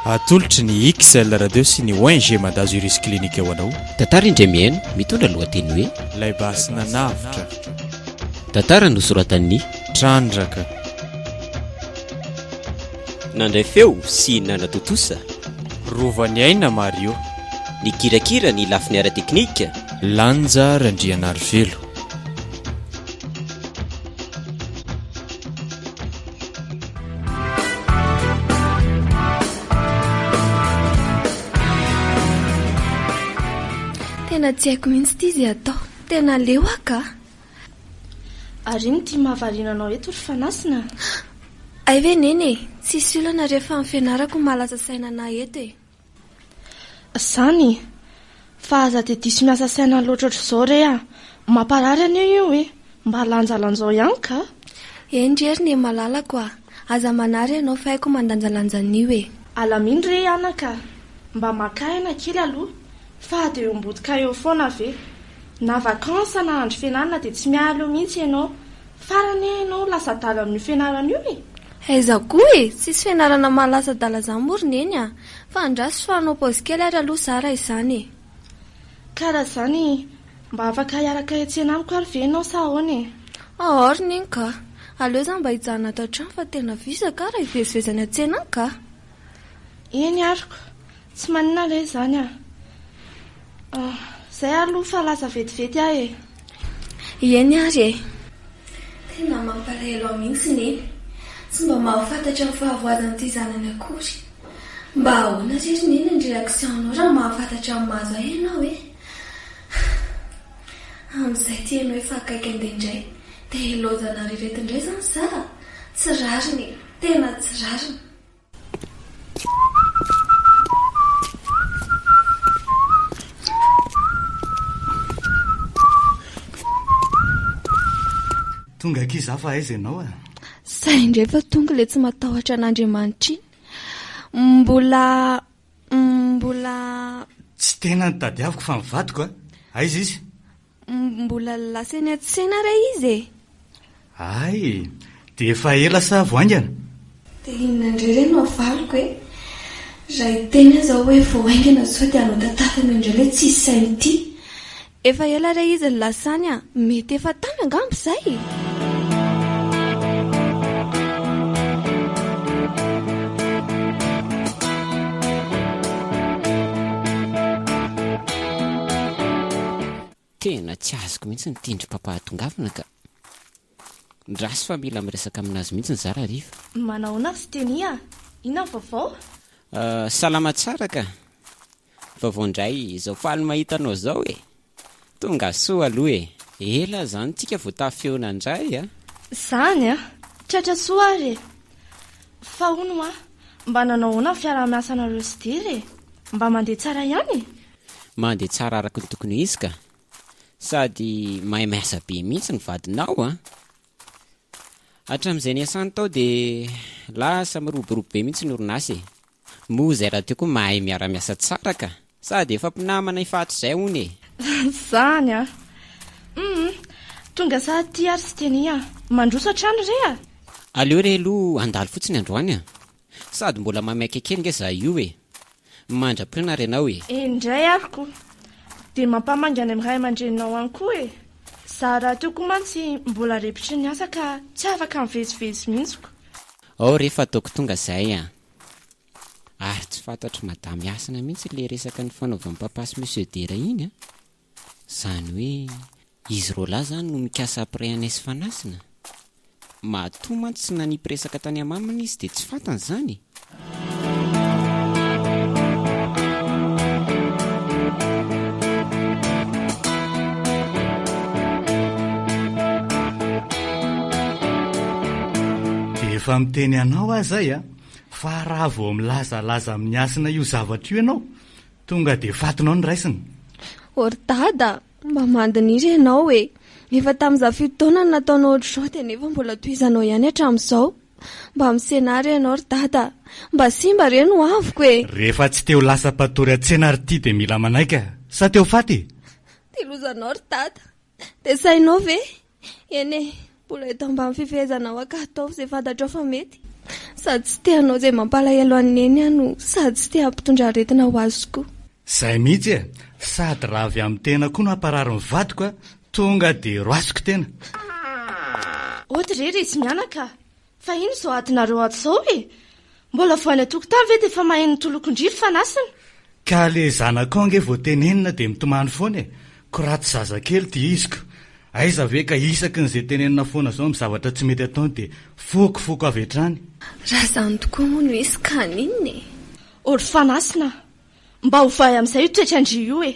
Atolotry ny XL Radio sy ny ONG Madazo Iris Clinic ho anao. Tantara Indremihaino mitondra lohateny hoe Lay basy nanavotra. Tantara nosoratan'ny Trandraka. Nandray feo sy nanatontosa. Rovan'i Aina Mario. Nikirakira ny lafiny ara-teknika. Lanja Randrianarivelo. Tena tsy haiko mihitsy ity izay atao. Tena leo aho ka. Ary ino ity mahavariana anao eto ry Fanasina? Hay ve neny e, tsisy olana rehefa ny fianarako no mahalasa saina anà eto e. Zany e! Fa aza dia diso miasa saina loatra ohatr'izao re a! Mamparary anio io e! Mba lanjalanjao ihany ka! Eny re ry Nemalalako a! Aza manary ianao fa haiko mandanjalanja anio e! Alamino re anaka a! Mba maka aina kely aloha fa dia eo am-botikay eo foana ve? Na vacance na andro fianarana dia tsy miala eo mihitsy ianao! Farany anie ianao lasa adala amin'io fianarana io e! Aiza koa e! Tsisy fianarana maha lasa adala izany moa ry Neny a! Fa andraso sao hanao paozy kely ary aloha za raha izany e! Ka raha izany, mba afaka hiaraka hiantsena amiko ary ve ianao sa ahoana e? Ahaa ry Neny kah! Aleo za mba hijanona ato an-trano fa tena vizaka aho raha hivezivezy any an-tsena any kah! Eny aroko, tsy manina re izany a! Ah, izay aloha fa lasa vetivety aho e! Eny ary e! Tena mampalahelo ahy mihitsy Neny, tsy mba mahafantatra ny fahavoazan'ity zanany akory. Mba ahoana re ry Neny ny réaction-nao raha mahafantatra ny mahazo ahy ianao e! Ah! Amin'izay ity haino efa akaiky andeha indray, te-hilaozana ry ireto indray izany sa? Tsy rariny e! Tena tsy rariny! Tonga akia za fa aiza ianao a? Ah? Zay indray fa tonga le tsy matahotra an'Andriamanitra iny. Mbola mbola tsy tena nitadiaviko fa mivadiko a. Ah? Aiza izy? Mbola lasa eny an-tsena re izy e! Hay e! Dia efa ela sa vao haingana? Dia inona indray re no avaliko e! Raha hiteny aza aho hoe vao haingana sao dia hanao tantara noho indray ilay tsy hisy sahy mitia. Efa ela re izy no lasa any a! Mety efa tany angamba izay e! Tena tsy azoko mihitsy ny tendrim-pampahatongavana ka. Midraso fa mila miresaka amin'azy mihitsy ny zara hariva. Manahoana ry Teny a! Inona ny vaovao? Salama tsara ka! Vaovao indray, izao faly mahita anao izao e! Tonga soa aloha e! Ela izany tsika vao tafeona indray a! Izany a! Tratra soa ary e! Fa hono hoa Mba nanao ahoana ny fiaraha-miasanareo sy Dira e? Mba mandeha tsara ihany e? Mandeha tsara araka ny tokony ho izy ka! Sady mahay miasa be mihitsy ny vadinao an! Hatramin'izay niasany tao dia lasa miroborobo be mihitsy ny orinasa e! Moa izay rahateo koa mahay miara-miasa tsara ka! Sady efa mpinamana efa hatrizay hono e! Zany an! Humm! Tonga sa aty ary Siteny an! Mandroso hatrany re a! Aleo re aloha handalo fotsiny androany an! Sady mbola maimaika kely nge za io e! Mandra-pirinà re anao e! Indray ary ko! Dia mampamangy any amin'ny ray aman-dreninao any koa e! Za rahateo koa mantsy mbola repotry ny asa ka tsy afaka mivezivezy mihitsy ko! Ao re fa ataoko tonga izay an! Ary tsy fantatry madame Hasina mihitsy ilay resaka nifanaovan'i papa sy monsieur Dera iny an! Izany hoe izy roalahy izany no mikasa après anay sy Fanasina? Matoa mantsy tsy nanipy resaka tany amaminy izy dia tsy fantany izany e! Dia efa miteny anao aho izay an! Fa raha vao milazalaza amin'ny hasina io zavatra io ianao, tonga dia fatinao ny raisina. Oh ry Dada a! Mba mandiniry ianao e! Efa tamin'izaho fito taona no nataonao ohatr'izao dia nefa mbola tohizanao ihany hatramin'izao. Mba misena ahy re ianao ry Dada a! Mba simba re ny hoaviko e! Rehefa tsy te ho lasa mpatory an-tsena ry ty dia mila manaiky a! Sa te ho faty e! Dia lozanao ry Dada! Dia sahinao ve? Eny e, mbola eto ambany fifehezanao ankahy ataovy izay fantatrao fa mety. Sady tsy te hanao izay mampalahelo an'i Neny aho no sady tsy te hampitondra aretina ho azy koa. Zay mihitsy e, sady raha avy amin'ny tena koa no hamparary ny vadiko a, tonga dia roasiko tena. Ody re resy mianaka a! Fa ino izao adinareo ato izao e? Mbola vao any an-tokotany ve dia efa mahay ny tolokon-driry fa an'asina? Ka le zanakao ange vao tenenina dia mitomany foana e! ko raha tsy zazakely dia iziko! aiza ve ka isaky ny ze tenenina foana zao am zavatra tsy mety ataony dia foko foko avy hatrany! Raha zany tokoa moa no izy ka haninona e! Ôry fanasina a! Mba ovahy amin'izay io toetran-dry io e!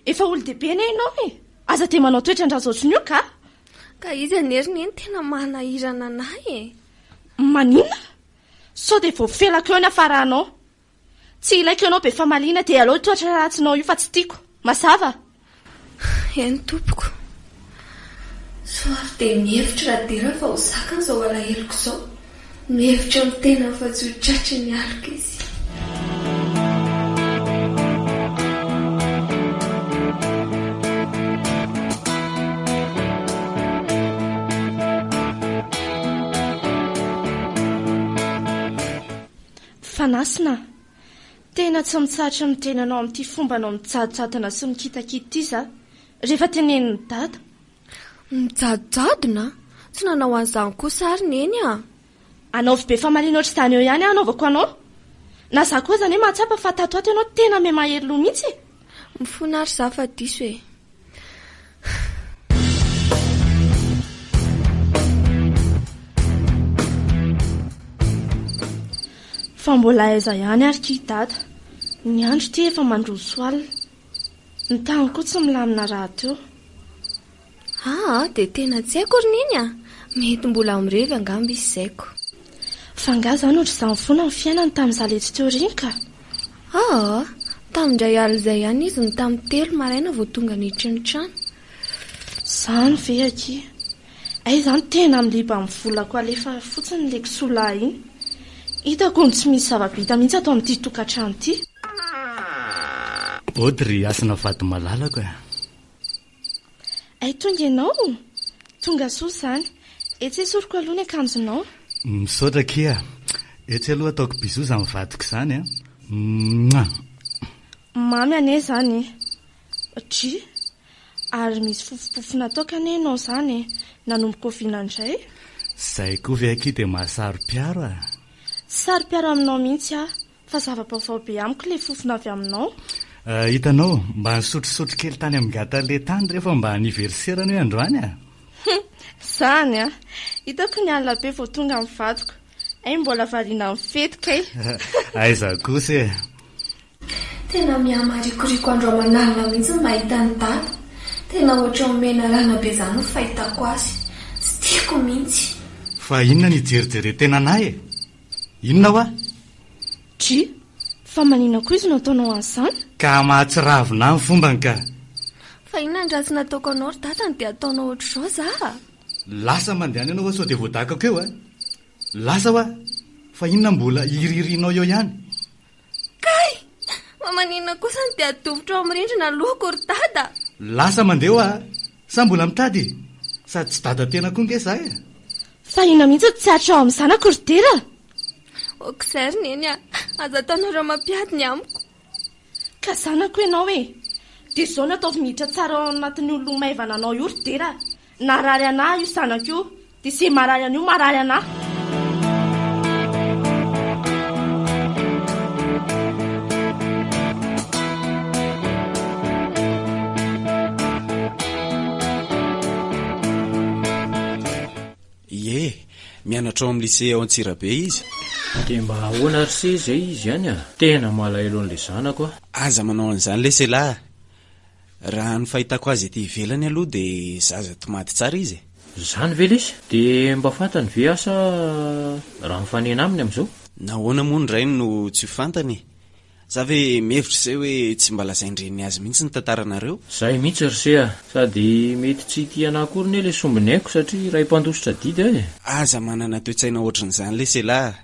Efa olon-dehibe anie ianao e! Aza dia manao toetran-dRajaoson io kah! Ka izy anie ry neny tena manahirana anay e! Maninona? Sao dia voafelako eo ny hafaranao? Tsy ilaiko ianao be famaliana dia alao io toetra ratsinao io fa tsy tiako. Mazava? Eny tompoko. Sao ary dia mihevitra Radera fa ho zakany izao alaheloko izao. Mihevitra amin'ny tenany fa tsy ho tratry ny aloka izy. Fanasina a! Tena tsy mitsahatra ny tenanao amin'ity fombanao mijadojadona sy mikitakita ity za, rehefa tenenin'i Dada. Mijadojadona? Tsy nanao an'izany kosa ary Neny a! Anaovy be famaliana ohatr'izany eo ihany aho anaovako anao. Na za koa aza anie mahatsapa fa tato ho ato ianao tena miha mahery loha mihitsy e! Mifona ary za fa diso e. Fa mbola aiza ihany ary ity dada. Ny andro ity efa mandroso alina. Ny tany koa tsy milamina rahateo. Aa dia tena tsy haiko ry neny a! Mety mbola ao mirevy angamba izy izay ko. Fa angaha izaho no ry izany foana ny fiainany tamin'izaho letsy teo ireny ka! Aa! Tamin-dray alina izay ihany izy no tamin'ny telo maraina vao tonga niditra ny trano. Izany ve aky! Hay izany tena miliba amin'ny volako alefa fotsiny ilay kisoa lahy iny. Hitako hono tsy misy zava-bita mihitsy ato amin'ity tokantrano ity. Body ry hasina vady malalako a! Hay tonga ianao? Tonga soa izany. Etsy esoriko aloha ny akanjonao. Misaotra akia a! Etsy aloha ataoko bisous izany vadiko izany a! Mouah! Mamy anie izany e! Dry! Ary misy fofompofona toaka anie ianao izany e! Nanomboka oviana indray? Izay koa ve akia dia maha saro-piaro a! Tsy saro-piaro aminao mihitsy aho. Fa zava-baovao be amiko ilay fofona avy aminao. Ah, hitanao, mba nisotrosotro kely tany amin'ny gâteau lait tany rehefa mba anniversaire-ny hoe androany ah. Hum, izany ah! Hitako ny alina be vao tonga ny vadiko. Hay mbola variana amin'ny fety kay. Aiza kosa eh! Tena mihamarikoriko andro aman'alina mihitsy ny mahita an'i Dada. Tena ohatran'ny menarana be izany ny fahitako azy. Tsy tiako mihitsy. Fa inona no ijerijerentenanay eh? Inona hoa? Tchii! Fa manina koa izy no ataonao azy izany? Ka mahatsiravina ahy ny fombany ka! Fa inona ny ratsy nataoko anao ry dadany dia ataonao ohatr'izao za? Lasa mandehana ianao hoa sao dia voadakako eo a! Lasa hoa! Fa inona mbola hirihirinao eo ihany? Kay! Fa maninona kosa no dia adovitra ao amin'ny rindrina lohako ry dada? Lasa mandeha hoa a! Sa mbola mitady e? Sady tsy dada tena koa nge za e! Fa inona mihitsy no tsy aritra ao amin'ny zanako ry dera? Aok'izay ry neny a! Aza ataonareo mampiady ny amiko. Ka zanako ianao e! Dia izao no ataovy miditra tsara ao anatin'io loha maivana anao io ry dera a! Narary anah io sanako io de ze marary anio marary anah. Ie, mianatra ao amin'ny lycée ao Antsirabe izy. Dia mba ahoana ary se izay izy any a? Tena malahelo an'ilay zanako aho. Aza manao an'izany lesy elah a! Raha ny fahitako azy ety ivelany aloha dia zaza tomady tsara izy e! Zany ve lesy? Dia mba fantany ve asa raha mifanena aminy amizao? Nahoana moa ny rainy no tsy ho fantany e? Za ve mihevitra izay hoe tsy mba lazain-dreniny azy mihitsy ny tantaranareo? Zay mihitsy ry se a! Sady mety tsy hitia anah akory ne le sombiny aiko satria iray mpandositra adidy aho e! Aza manana toe-tsaina ohatrin'izany lesy elah a!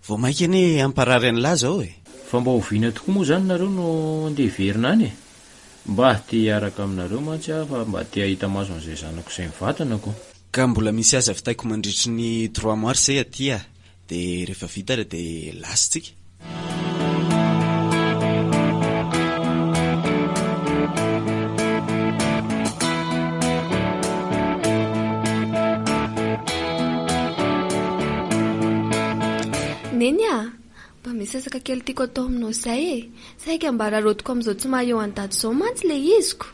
Vao maika anie hamparary an'i Laza ao e! Fa mba oviana tokoa moa izany nareo no andeha hiverina any e? Mba te hiaraka aminareo mantsy aho fa mba te hahita maso an'izay zanako izay mivantana ko. Ka mbola misy asa vitaiko mandritry ny trois mois izay aty a! De rehefa vita re de lasa tsika. Neny a! Mba misy sasaka kely tiako atao aminao izay e! Saika mba raraotiko amin'izao tsy maha eo an-daty izao mantsy ilay iziko.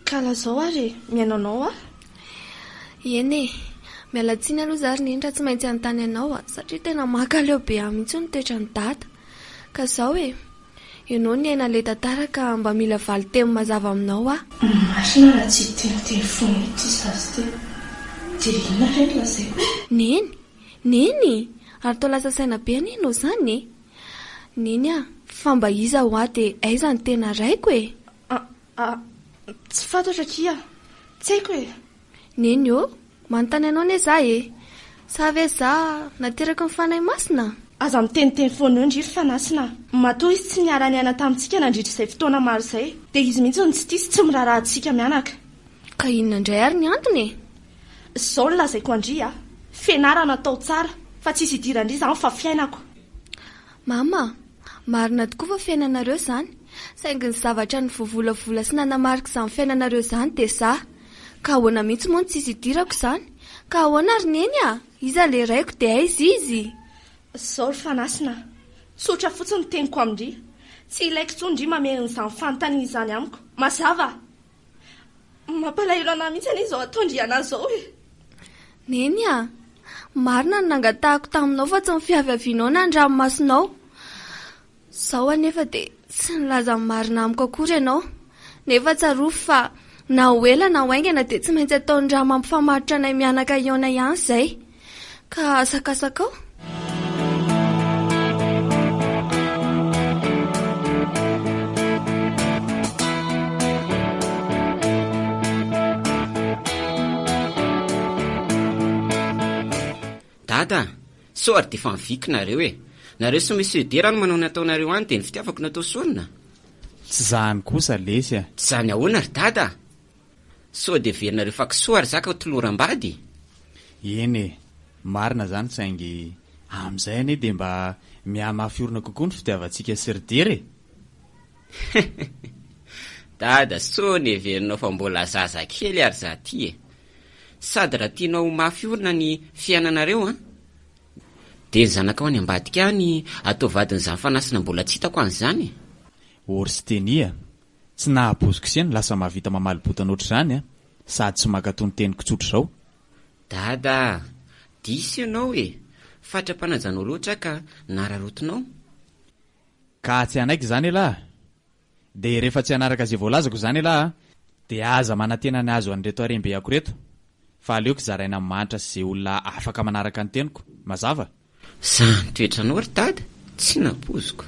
Ka lazao ary e! Mihaino anao aho. Eny e! Miala tsiny aloha izaho ry Neny raha tsy maintsy hanontany anao satria tena mankaleo be ahy mihitsy ny toetran'i Dada. Ka izao e! Enao niaina le tantara ka mba mila valin-teny mazava aminao ah. Marina raha tsy hiteniteny foana ity zaza ity dia inona re ny lazaiko e? Neny! Neny! Ary toa lasa saina be anie enao zany e! Neny ah! Fa mba iza hoa de aiza ny tena raiko e? Ah ah! Tsy fantatro akia! Tsy haiko e! Neny ô! Manontany anao anie za e! Sa ve za nateraky ny Fanahy Masina? Aza miteniteny foana eo ndry ry fanasina a! Matoa izy tsy niara-niaina tamintsika nandritra izay fotoana maro izay, dia izy mihitsy no tsy tia sy tsy miraharaha antsika mianaka. Ka inona indray ary ny antony e? Izao no lazaiko an-dry a! Fianarana atao tsara, fa tsisy idiran-dry izany fa fiainako. Mama, marina tokoa fa fiainanareo izany, saingy ny zavatra nivovolavola sy nanamarika izany fiainanareo izany dia za. Ka ahoana mihitsy moa no tsisy idirako izany? Ka ahoana ry Neny a! Iza ilay raiko dia aiza izy? Izao ry Fanasina a! Tsotra fotsiny ny teniko amin-dry. Tsy ilaiko intsony ndry mamerina izany fanontaniana izany amiko. Mazava? Mampalahelo anà mihitsy anie izao ataon-dry anà izao e! Neny a! Marina ny nangatahako taminao fa tsy ny fiaviavianao na ny ranomasonao. Izao anefa dia tsy nilaza ny marina amiko akory ianao. Nefa tsarovy fa na ho ela na ho haingana dia tsy maintsy ataon'ny rà mampifamaritra anay mianaka hihaona ihany izay. Ka asakasakao. Dada a! Sao ary dia efa miviky nareo e! Nareo sy Monsieur Dera no manao ny ataonareo any dia ny fitiavako no atao sorona? Tsy zany kosa lesy a! Tsy zany ahoana ry Dada a! Sao dia heverinareo fa kisoa ary zaka toloram-bady? Eny e! Marina zany saingy amin'izay anie dia mba mihamafy orina kokoa ny fitiavantsika sy ry Dera e! Dada, sao ny heverinao fa mbola zazakely ary za ty e! Sady raha tianao ho mafy orina ny fiainanareo an! Dia ny zanakao any ambadika any atao vadin'i Zafanasina mbola tsy hitako an'izany e! Orstenia, tsy nahabozok'ise ny lasa mahavita mamaly botana ohatr'izany an! Sady tsy mankatò ny teniko tsotra izao. Dada a! Diso ianao e! Fatra-panajanao loatra aho ka nararotinao. Ka tsy hanaiky izany elah! Dia rehefa tsy hanaraka izay voalazako izany ialahy a! Dia aza manantena ny hahazo an'ireto harem-be ako ireto, fa aleoko zaraina amin'ny mahantra sy izay olona afaka manaraka ny teniko. Mazava? Zah ny toetranao ry dada tsy nampoiziko.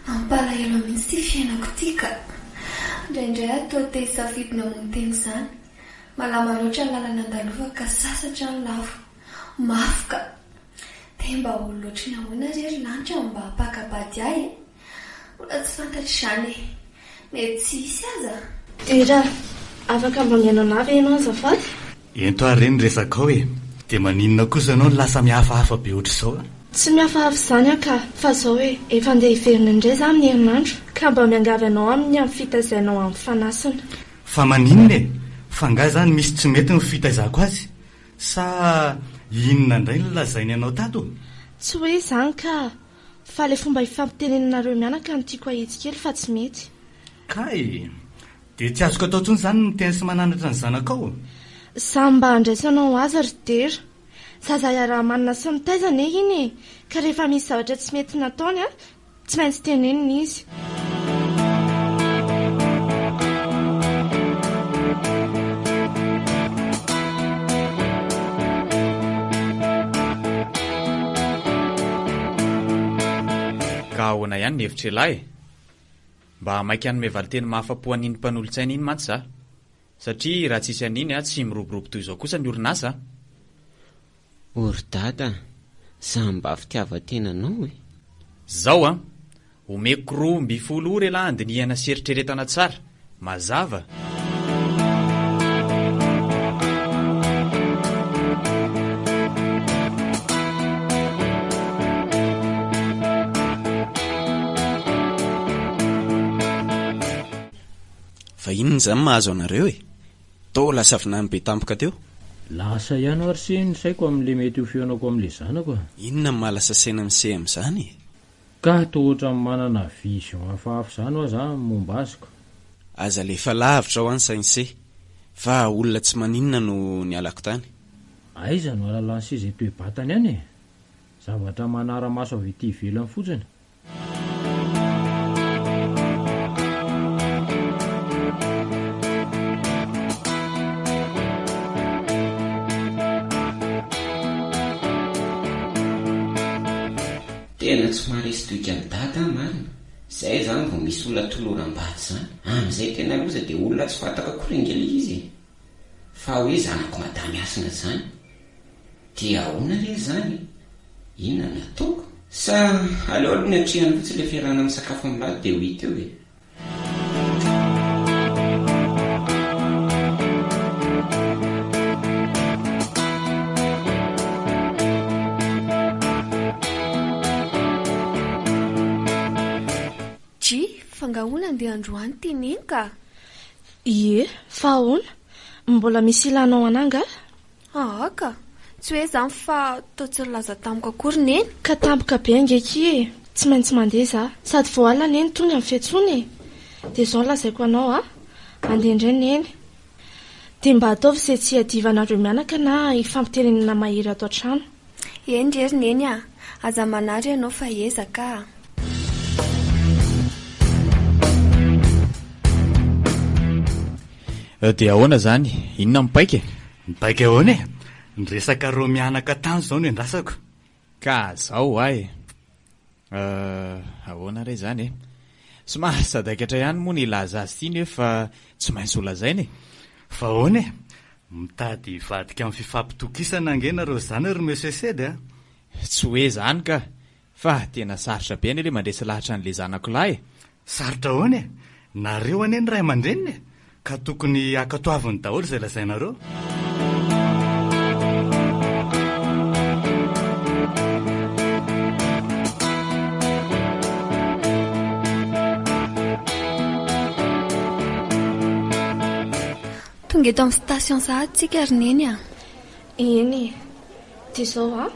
Mampalahelo mihitsy ity fiainako ity ka! Indraindray aho toa te hisafidy ny hamono tena izany. Malama loatra ny lalana andalovako ka sasatra ny lafo. Mafy ka! Te mba ho loatry ny ahoana re ry lanitra no mba hampaka-bady ahy e? Mbola tsy fantatro izany e! Mety tsy hisy aza? Dera, afaka mba mihaino anah ve ianao azafady? Ento ary re ny resakao e! Dia maninona kosa ianao no lasa mihafahafa be ohatr'izao a! Tsy mihafahafa izany aho ka! Fa izao e! Efa handeha hiverina indray izaho amin'ny herinandro ka mba miangavy anao aminy ny amin'ny fitaizainao an'i Fanasina. Fa maninona e! Fa angaha izany misy tsy mety ny fitaizako azy? Sa inona indray no lazainy anao tato? Tsy hoe izany ka! Fa ilay fomba ifampitenenanareo mianaka no tiako hahitsy kely fa tsy mety. Kay! Dia tsy azoko atao intsony izany ny miteny sy mananatra ny zanakao ô? Za mba andraisanao azy ry Dera. Zaza iaraha-manana sy mitaiza anie iny e! Ka rehefa misy zavatra tsy mety nataony an, tsy maintsy tenenina izy. Ka ahoana ihany ny hevitr'ialahy? Mba maika hanome valinteny mahafa-po an'iny mpanolotsaina iny mantsy za. Satria raha tsisy an'iny tsy miroborobo toy izao kosa ny orinasa a! O ry Dada a! Za mba fitiavan-tena anao e! Zao a! Omeko roa mby folo ora elah handinihana sy eritreretana tsara, mazava, Fa inona izany mahazo anareo e? Toa lasa vinany be tampoka teo. Lasa ihany ho'a ry se ny saiko amin'ilay mety ho fihaonako amin'ilay zanako a! Inona no maha lasa saina ny se amin'izany e? Ka toa ohatran'ny manana vision hafahafa izany hoa za ny momba azy ka. Aza alefa lavitra hoa ny saintsy fa olona tsy maninona no nialako tany. Aiza no alalan'ny seza eto Ibatana ihany e! Zavatra manara-maso avy ety ivelany fotsiny. Tena tsy maharesy tohika an'i Dada aho marina, zay zany vao misy olona toloram-bady zany, amin'izay tena loza dia olona tsy fantako akory ange ilay izy e! Fa hoe zanak'i Madame Hasina zany dia ahoana re zany e! Inona no ataoko? Sa aleo aloha ny atrehany fotsiny ilay fiarahana misakafo amin'ny Lado dia ho hita eo e! Fangahona andeha androany ty Neny ka! Ie, fa ahoana? Mbola misy ilanao anà angaha? Haa ka! Tsy hoe izany fa toa tsy nilaza tamiko akory Neny. Ka tampoka be ange akia e! Tsy maintsy mandeha za. Sady vao alina Neny tonga ny fiantsoana e! Dia izao no lazaiko anao a! Andeha indray Neny. Dia mba ataovy izay tsy hiadivanareo mianaka na hifampiterenina mahery ato an-trano. Eny re ry neny a! Aza manary ianao fa ezaka a! Dia ahoana izany? Inona ny paika e? Ny paika ahoana e? Ny resaka roa mianaka tany izao no iandrasako. Ka zao ho'a e! Euh, ahoana re izany e? Somary sadaikatra ihany moa ny hilaza azy ity nef fa tsy maintsy ho lazaina e! Fa ahoana e? Mitady hivadika amin'ny fifampitokisana ange nareo zany ry Monsieur Sedy a! Tsy hoe zany ka! Fa tena sarotra be anie le mandresy lahatra an'le zanako lahy e! Sarotra ahoana e! Nareo anie no ray aman-dreniny e! Ka tokony hankatoaviny daholo izay lazainareo. Tonga eto amin'ny station sahady tsika ry Neny a! Eny e! Dia izao an!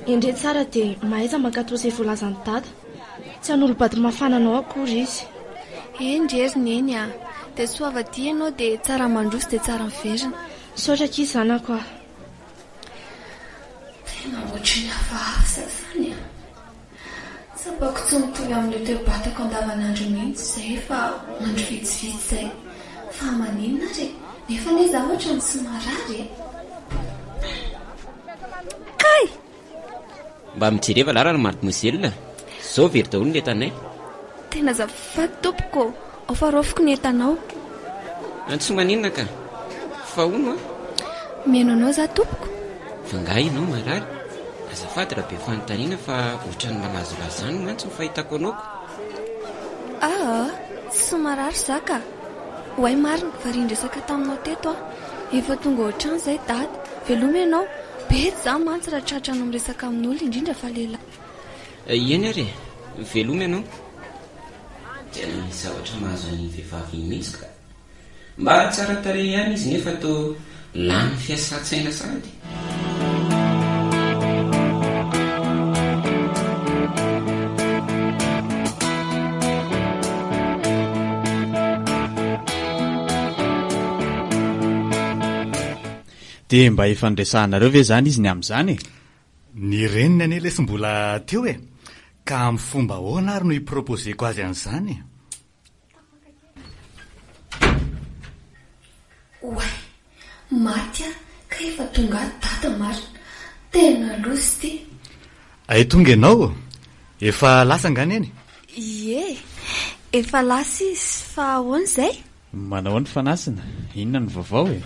Endrey tsara dia mahaiza mankatò izay voalazan'i Dada. Tsy hanolo-bady mafana anao akory izy. Eny ry hery Neny a! Dia soa avadiha ianao dia tsara mandroso dia tsara miverina. Misaotra akia zanako a! Tena ohatry ny hafahafa izany a! Tsapako tsy mitohy amin'io toe-batako andavanandro mihitsy izay fa andro vitsivitsy izay. Fa maninona ary e? Nefa anie izaho ohatran'ny tsy marary e! Kay! Mba mijereva lalana Mademoiselle, izao very daholo ny entanay. Tena azafady tompoko. Ao fa raofiko ny entanao. An tsy maninona ka. Fa hono an. Mihaino anao za tompoko. Fa nga ianao marary? Azafady raha be fanontaniana fa ohatran'ny malazolazo zany mantsy ny fahitako anao ko. Aa tsy marary za ka. Oay marina fa ry niresaka taminao teto aho. Efa tonga ao an-trano zay dada. Veloma ianao. Betsy za mantsy raha tratra anao miresaka amin'olona indrindra fa lehilahy. Eny ary e. Veloma ianao. Tena misy zavatra mahazo an'iny vehivavy iny mihitsy ka! Mba tsara tarehy ihany izy nefa toa lany fiasan-tsaina sahady. Dia mba efa niresahanareo ve izany izy ny amin'izany e? Ny reniny anie lesy mbola teo e! Ka amin'ny fomba ahoana ary no hi-proposer-ko azy an'izany? Oay! Maty aho ka efa tonga ato dada marina! Tena loza ity! Hay tonga ianao ô! Efa lasa angaha neny? Ie, efa lasa izy, fa ahoana izay? Manao ahoana fa nasina? Inona no vaovao e?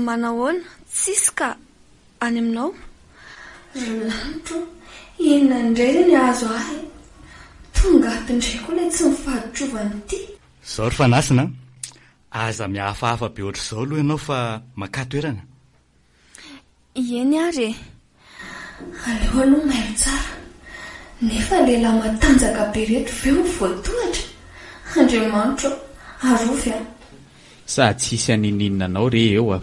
Manahoana? Tsisy ka! Any aminao? Ry lanitra ô! Inona indray re ny hahazo ahy? Tonga ato indray koa ilay tsy mifaditrovana ity! Izao ry Fanasina an! Aza mihafahafa be ohatr'izao aloha ianao fa makà toerana! Ieny ary e! Aleo aloha mailo tsara. Nefa lehilahy matanjaka be reto ve ho voatohatra? Andriamanitro ô! Arovy aho. Sady tsy hisy haninininina anao re eo a!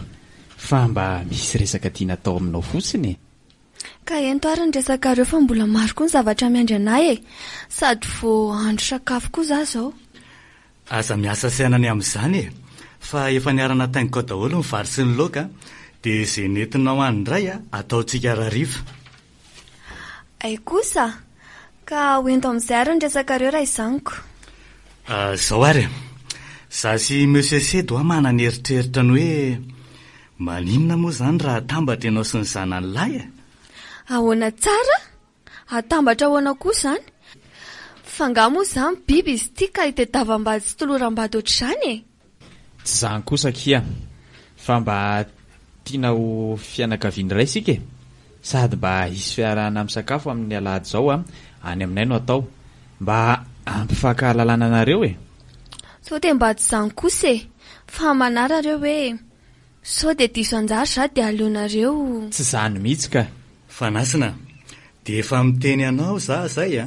Fa mba misy resaka tiana atao aminao fotsiny e! Ka ento ary ny resakareo fa mbola maro koa ny zavatra miandry anay e! Sady vao andro sakafo koa za zao. Aza miasa saina ny amin'izany e! Fa efa niara-nataingiko ao daholo ny vary sy ny laoka, dia izay nentinao any indray ataontsika harariva. Hay kosa! Ka ho ento amin'izay ary ny resakareo raizaniko. Ah, izao ary e! Izaho sy Monsieur Sedy hoa manana eritreritra ny hoe maninona moa izany raha atambatra ianao sy ny zanany lahy e? Ahoana tsara? Atambatra ahoana koa izany? Fa angaha moa izany biby izy ity ka itedavambady sy toloram-bady ohatr'izany e? Tsy izany kosa akia, fa mba tiana ho fianakaviana iray isika e! Sady mba hisy fiarahana misakafo amin'ny alahady izao any aminay no atao, mba hampifankahalalana anareo e! Sao dia mba tsy izany kosa e! Fa manara re hoe Sao dia diso anjara za dia aleonareo. Tsy zany mihitsy ka. Fanasina, dia efa miteny anao za zay a!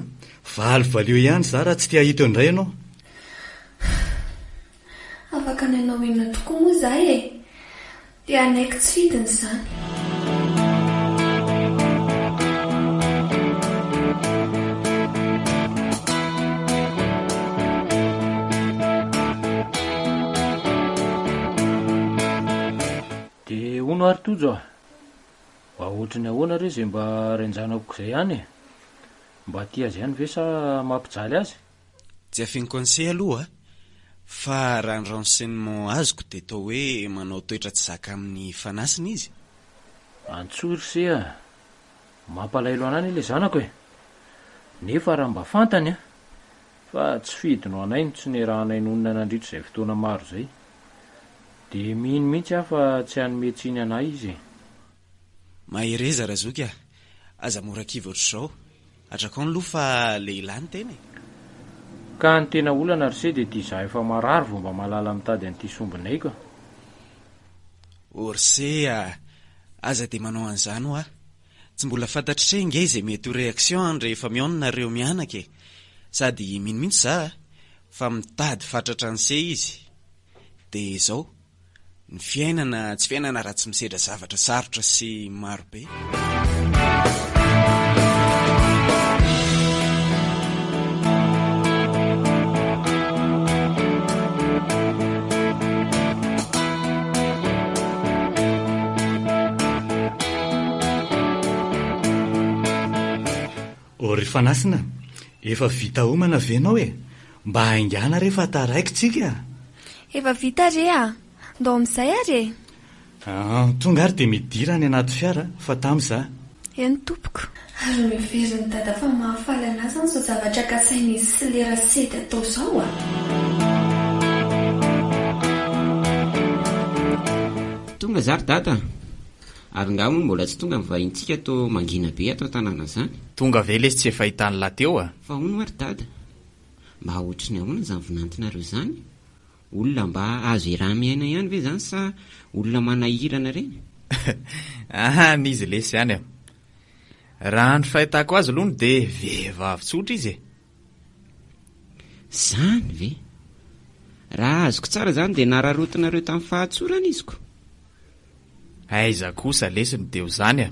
Valy valio ihany za raha tsy te hahita eo indray ianao. Afaka ny hanao inona tokoa moa za e! Dia hanaiky tsy fidiny izany. Dia hono ary Tojo a! Mba ohatran'ny ahoana re izay mba renjanako izay ihany e! Mba tia azy ihany ve sa mampijaly azy? Tsy afin conseil aloha a! Fa raha ny renseignement azoko dia toa hoe manao toetra tsy zaka amin'ny fanasina izy? Antsoy ry se a! Mampalahelo an'ahy ilay zanako e! Nefa raha mba fantany a! Fa tsy fidiny ho anay ny tsy nirahanay nonina nandritra izay fotoana maro izay. Dia mino mihitsy aho fa tsy hanome tsiny anay Izy e. Mahereza Razoky a! Aza mora kivy ohatr'izao. Atrakao ny loha fa lehilahy ny tena e! Ka ny tena olana ry se dia ity izaho efa marary vao mba mahalala mitady an'ity sombinaiko a! Ô ry se a! Aza dia manao an'izany hoa! Tsy mbola fantatritray nge izay mety ho réaction an rehefa mihaona nareo mianaka e! Sady mino mintsy za a! fa mitady fatratra anse izy! de zao! ny fiainana tsy fiainana raha tsy misedra zavatra sarotra sy maro be! O ry Fanasina, efa vita homana ve nao e? Mba haingana re fa taraiky tsika a! Efa vita re a! Ndao amin'izay ary e! An, tonga ary dia midira any anaty fiara fa tamy za. Eny tompoko. Ary noheverin'i Dada fa mahafaly an'ahy izany izao zavatra kasain'izy sy le Rasedy atao izao a! Tonga za ry Dada a! Ary nga hono mbola tsy tonga ny vahintsika to mangina be ato an-tanàna zany? Tonga ve lesy tsy efa hitan'i la teo a? Fa hono ary dada, mba ohatry ny ahoana izany vinantinareo izany? Olona mba azo iraha-miaina ihany ve izany sa olona manahirana ireny? An izy lesy ihany a! Raha ny fahitako azy aloha dia vehivavy tsotra izy e! Izany ve? Raha azoko tsara izany dia nararotinareo tamin'ny fahatsorana izy ko. Aiza kosa lesy dia ho izany a!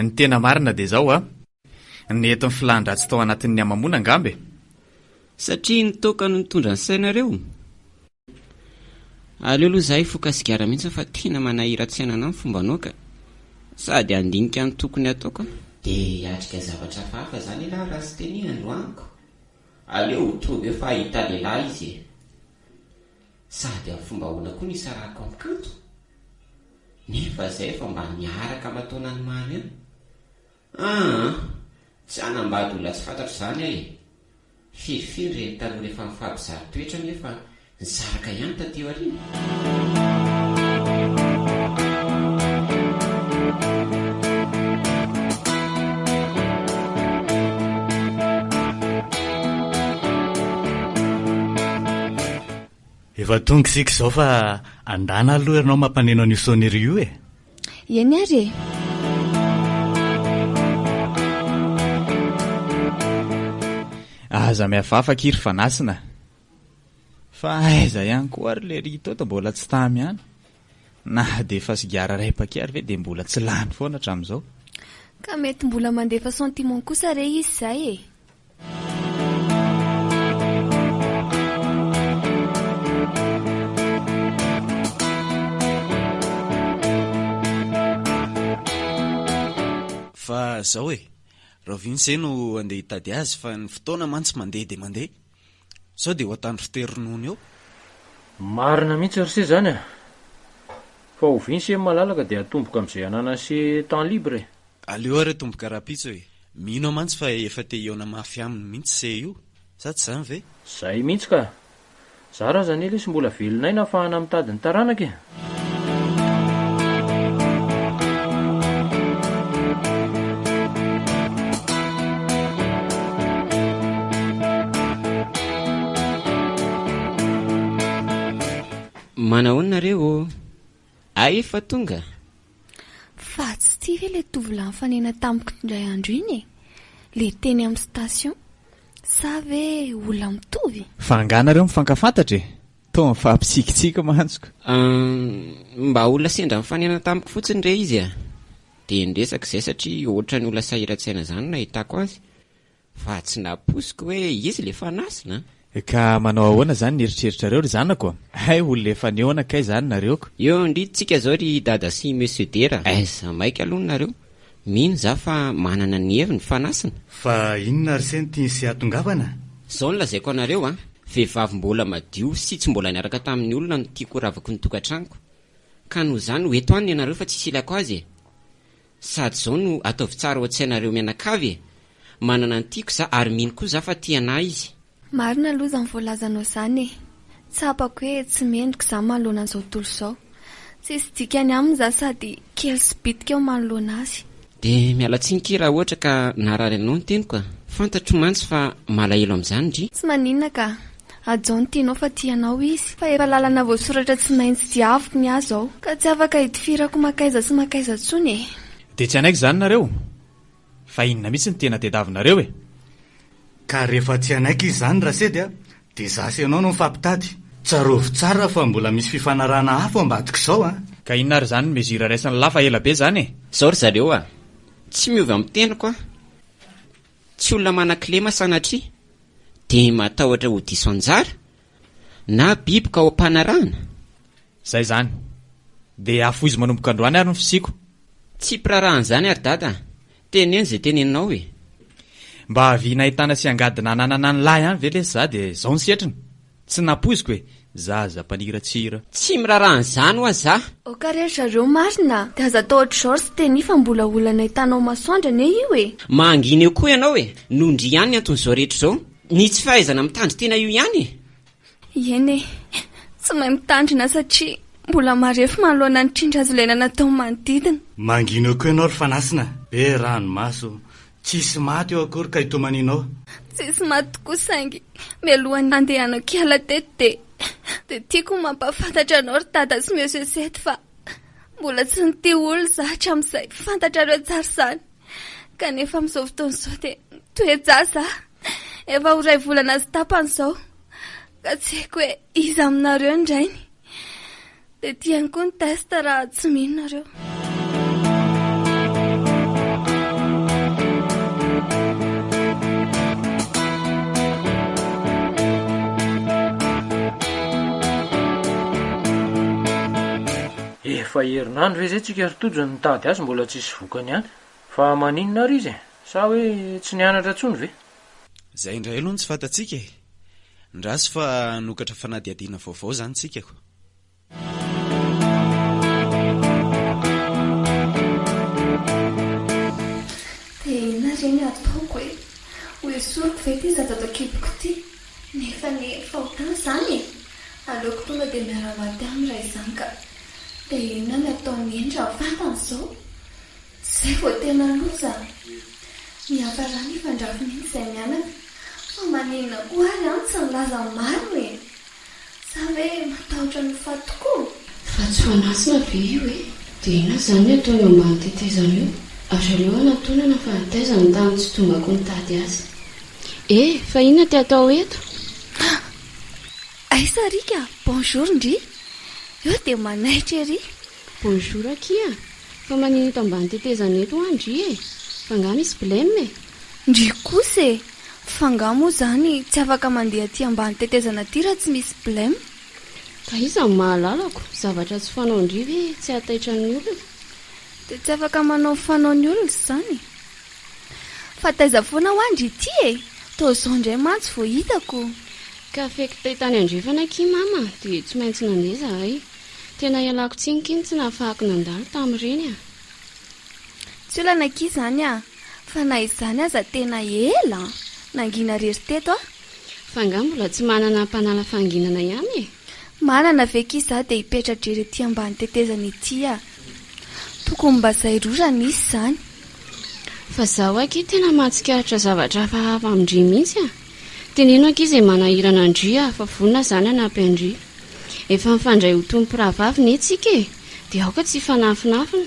Ny tena marina dia izao a! Nety ny filan-dratsy tao anatin'ny hamamoana angamba e! Satria ny toaka no nitondra ny sainareo? Aleo aloha zahay foka sigara mihitsy fa tena manahiratsena anah ny fomba anao ka! Sady handinika ny tokony ataoko aho. Dia hiatrika zavatra hafahafa zany ialahy raha tsy teneno androaniko? Aleo ho tonga eo fa hahita lehilahy izy e! Sady amin'ny fomba ahoana koa no hisarahako amin'i Kanto? Nefa zay efa mba niaraka aman-taonany mamy eo. Aa! tsy hanambady olona tsy fantatro izany ae! Fiffi ny reny tanora efa mifampizaha toetra anie fa nisaraka ihany taty aoriana. Efa tonga isika izao fa andana aloha ianao mampaneno an'io sonnerie io e! Eny ary e! Aza mihafahafa akia ry Fanasina. Fa aiza ihany koa ary ilay Ritoto mbola tsy tamy ihany. Na dia efa sigara iray paquet ary ve dia mbola tsy lany foana hatramin'izao. Ka mety mbola mandefa sentiment kosa re izy izay e! Fa zao e, rahoviana izay no andeha hitady azy fa ny fotoana mantsy mandeha dia mandeha. Zao dia ho atandro teo ronono eo. Marina mihitsy ry se zany a! Fa ho vin se malalaka dia atomboka amzay ananany se temps libre e! Aleo ary atomboka rapitso e! Mino aho mantsy fa efa te hihaona mafy aminy mihitsy se io! Sa tsy zany ve? Zay mihitsy ka! Zara aza anie lesy mbola velon'aina afahana mitady ny taranaka e! Manahoana nareo ô? Ay efa tonga? Fa tsy ity ve ilay tovolahy nifanena tamiko indray andro iny e? Ilay teny amin'ny station. Sa ve olona mitovy? Fa angaha nareo mifankafantatra e? Toa mifampitsikitsiky mantsy ko. Ahh, mba olona sendra nifanena tamiko fotsiny re izy ah, dia niresaka izay satria ohatrany olona sahiran-tsaina izany no nahitako azy, fa tsy nampoiziko hoe izy ilay fanasina an! Ka manao ahoana izany ny eritreritrareo ry zanako a! Hay olona efa nihaona kay izany nareo ko! Eo ndry tsika izao ry dada sy monsieur dera! Aiza maika aloha nareo! Mino za fa manana ny heviny fa nasina. Fa inona ary se ny tiany sy hatongavana? Zao no lazaiko anareo a, vehivavy mbola madio sy tsy mbola niaraka tamin'ny olona no tiako horavako ny tokatranoko, ka noho izany ho eto any ianareo fa tsisy ilako azy e! Sady zao no ataovy tsara ao an-tsainareo mianakavy e! Manana ny tiako za ary mino koa za fa tia anah izy. Marina aloha zany voalazanao zany e! Tsapako hoe tsy mendrika za manoloana an'izao tontolo izao. Tsisy dikany aminy za sady kely sy bitika aho manoloana azy. Dia miala tsiny ky raha ohatra ka naharary anao ny teniko a! Fantatro mantsy fa malahelo amin'izany ndry. Tsy maninona ka! Hajao ny tianao fa tia anao izy fa efa lalana voasoratra tsy maintsy diaviko ny ahy zao ka tsy afaka hitifirako makaiza sy makaiza tsony e! Dia tsy hanaiky izany nareo? Fa inona mihitsy no tena tediavinareo e? Ka rehefa tsy hanaiky izy izany Rasedy a, dia za sy ianao no mifampitady. Tsarovy tsara fa mbola misy fifanarahana hafa ao ambadik'izao a! Ka inona ary izany mesure raisin'i la fa ela be izany e? Izao ry zareo a! Tsy miovy amin'ny teniko aho. Tsy olona manan-kilema sanatria dia matahotra ho diso anjara Na biby ka ao am-panarahana? Izay izany. Dia hafohizo manomboka androany ary ny fisiako. Tsy mpiraharaha an'izany ary Dada a! Teneno izay teneninao e! Mba havia nahitana sy angady nananana ny lahy ihany ve lesy za dia izao ny setriny? Tsy nampoiziko e! Zaza mpaniratsira. Tsy miraharaha an'izany ho'a za! Aoka re ry zareo marina a! Dia aza atao ohatr'izao ry Siteny fa mbola olona nahitana ao masoandro anie io e! Mangina eo koa ianao e! Nondria ihany ny anton'izao rehetra izao! Ny tsy fahaizana mitandry tena io ihany e! Eny e! Tsy mahay mitandrina satria mbola marefo manoloana ny trindrazolena natao manodidina. Mangina eo koa ianao ry fanasina, be ranomaso, tsisy maty eo akory ka itomaninao. Tsisy maty tokoa saingy mialohan'ny handehanako hiala teto dia dia tiako ho mampahafantatra anao ry Dada sy Monsieur Seth fa mbola tsy nitia olona izaho hatramin'izay, fantatrareo tsara izany. kanefa amin'izao fotoana izao dia toe-jaza efa ho iray volana sy tapany izao ka tsy haiko hoe iza aminareo ny rainy. Dia tiany koa ny test raha tsy mino nareo. Efa herinandro ve izay tsika ry Tojo no nitady azy mbola tsisy Vokany ihany. Fa maninona ary izy e? Sa hoe tsy nianatra intsony ve? Izay indray aloha no tsy fantatsika e! Ndraso fa hanokatra fanadihadiana vaovao izany isika ko! Dia inona re ny ataoko e? Ho esoriko ve ity zazadakiboko ity? Nefa anie efa ho tany izany e! Aleoko tonga dia miara-maty aminy raha izany ka! Dia inona ny ataon'i Hendry amin'ny vatany izao? Izay vao tena loza a! Miafarà ny fandrafin'iny izay mianaka fa maninona koa ary an tsy nilaza ny marina e! Sa ve matahotra ny faty tokoa? Fa tsy fanasina ve io e? Dia inona izany ny ataony eo ambany tetezana eo? Aza aleo hanantonana fa nitaiza ny tany tsy tombako nitady azy. E! Fa inona ty atao eto? Ha! Aiza ry ka? Bonjour ndry! Eo dia manaitra ery. Bonjour akia! Fa manino eto ambany tetezana eto hoa ndry e! Fa nga misy blem e! Ndry kosa e! Fa nga moa zany tsy afaka mandeha aty ambany tetezana aty raha tsy misy blem? Ka iza no mahalalako? Zavatra tsy fanao ndry ve tsy hahataitra ny olona? Dia tsy afaka manao ny fanaon'ny olona izany? Fa taiza foana hoa ndry ity e! Toa zao ndray mantsy vao hitako! Ka feky tay tany andrefana akia mama dia tsy maintsy nandeha zahay. Tena ialako tsiny kin tsy nahafahako nandalo tam reny a! Tsy olana akia izany a! Fa na izany aza tena ela nangina rery teto a! Fa nga mbola tsy manana mpanala fahanginana ihany e! Manana ve akia za dia hipetra-drery ety ambany tetezana ety a! Tokony mba zay roa raha misy izany! Fa zaho akia tena mahatsikaritra zavatra hafahafa amin-dry mihitsy a! Teneno ankizy e manahirana ndry a fa vonona za nanampy andry efa mifandray ho tompo rahavavy ne tsika e de aoka tsy hifanafinafina.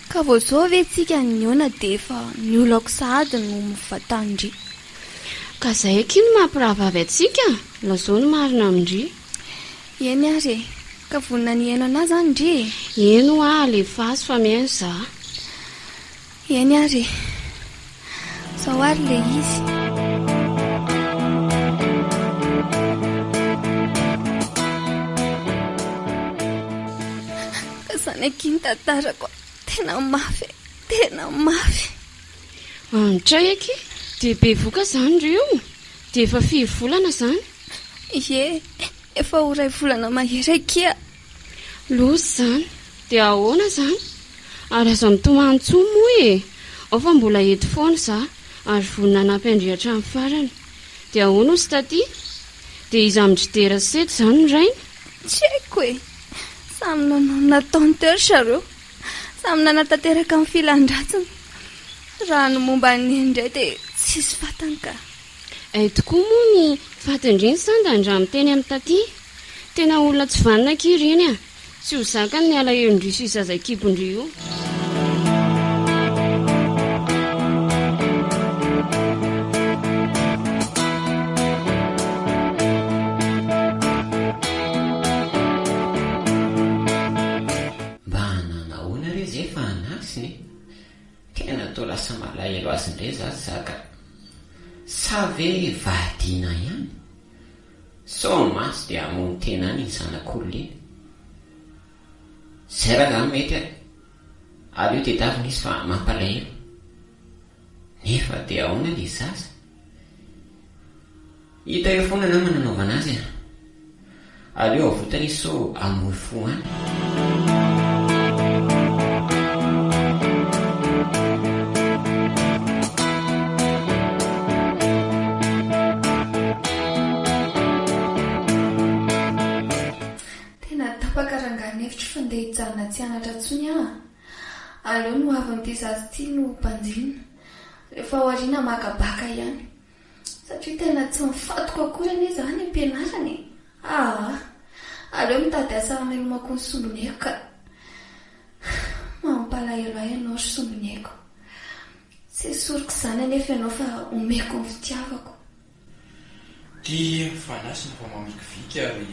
Ka vao zao ve tsika nihaona de efa ny olako sahady no mivantany ndry. Ka zay akia no maha mpirahavavy antsika lazao ny marina amindry. Eny ary e, ka vonona ny hihaino anah zany ndry e. Eny hoa alefaso fa mihaino za. Eny ary e! Zao ary le izy. Ka zany akia ny tantarako a! Tena mafy e! Tena mafy! Andray akia! Dia bevoka zany ry o! Dia efa firy volana zany? Ie! Efa ho iray volana mahery akia! Loza izany! Dia ahoana izany? Ary aza mitomany intsony moa e! Ao fa mbola eto foana izaho ary vonona hanampy an-dry hatramin'ny farany. Dia ahoana hozy taty? Dia iza amin-dry Dera sy Sety izany ny rainy? Tsy haiko e! Samy nanao ny nataony teo ry zareo. Samy nanatanteraka ny filan-dratsiny. Raha ny momba an'i Neny indray dia tsisy fantany ka. Hay tokoa moa ny fatin-dreny sa ndany raha miteny amin'i Taty? Tena olona tsy vanona akia ireny a! Tsy ho zakany ny alahelon-dry sy zaza kibon-dry io. Mba hanao ahoana re izay fa an'asiny e! Tena toa lasa malahelo azy indray za saka. Sa ve vadiana ihany? Sao maty dia hamono tena any iny zanak'olona iny. Zay rangahy no mety ary. Aleo tedavina izy fa mampalahelo. Nefa dia ahoana le zaza? Hita eo foana nama nanaovana azy a! Aleo avotany izy sao hamoy fo any. Tena tapaka rangahy ny hevitro fa ndeha hijanona tsy hanatra intsony aho a! Aleo ny ho avin'ity zaza ity no banjinina. Rehefa ao aoriana maka bacc ihany. Satria tena tsy mifantoka akory anie izany am-pianarana e! Aa! Aleo mitady asa hamelomako ny sombinieko ka! Mampalahelo ahy ianao ry sombinieko. Tsy esoriko izany anefa ianao fa omeko ny fitiavako. Ty fanasina fa mamikiviky ary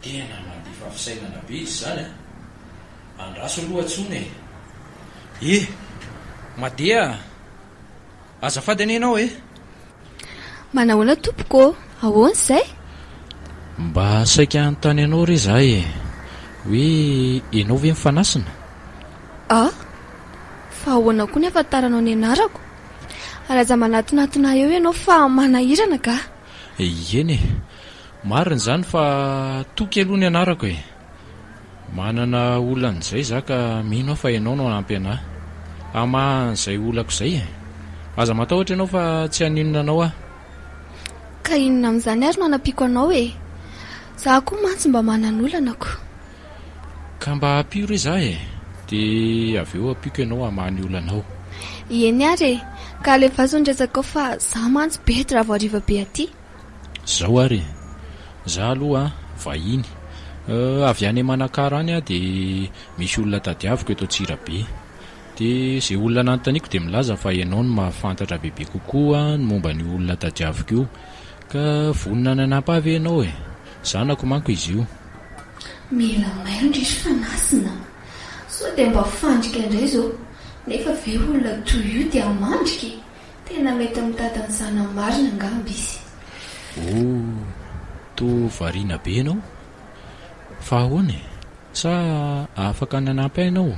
tena mandefa fisainana be izy izany a! Andraso aloha tsony e! Ee! Madeha a! Azafady anie ianao eh! Manahoana tompoko ô? Ahoana izay? Mba saika hanontany anao re za e! Hoe ianao ve mifanasina? Ah! Fa ahoana koa ny afantaranao ny anarako? Aza manatonatona eo ianao fa manahirana gah! Eny e! Marina izany fa Toky aloha ny anarako e! Manana olana izay izaho ka mino aho fa ianao no hanampy anà hamaha an'izay olako izay e! Aza matahotra ianao fa tsy haninona anao aho. Ka inona amin'izany ary no hanampiako anao e! Izaho koa mantsy mba manana olanako. Ka mba ampio re izaho e! Dia avy eo ampiako ianao hamaha ny olanao. Eny ary e! Ka alefaso ny resakao fa izaho mantsy bedy raha vao hariva be aty. Zao ary e! Za aloha vahiny, avy any Manakara any aho dia misy olona tadiaviko eto Antsirabe. Dia izay olona nanontaniako dia milaza fa ianao no mahafantatra bebe kokoa ny momba an'io olona tadiaviko io. Ka vonona ny hanampy ahy ve ianao e? Zanako manko izy io. Mila mailo ndry ry fanasina a! Sao dia mba fandrika indray izao? Nefa ve olona toy io dia mandrika e? Tena mety mitady ny zanany marina angamba izy. Oh, toa variana be ianao. Fa ahoana e? Sa afaka ny hanampy ahy ianao?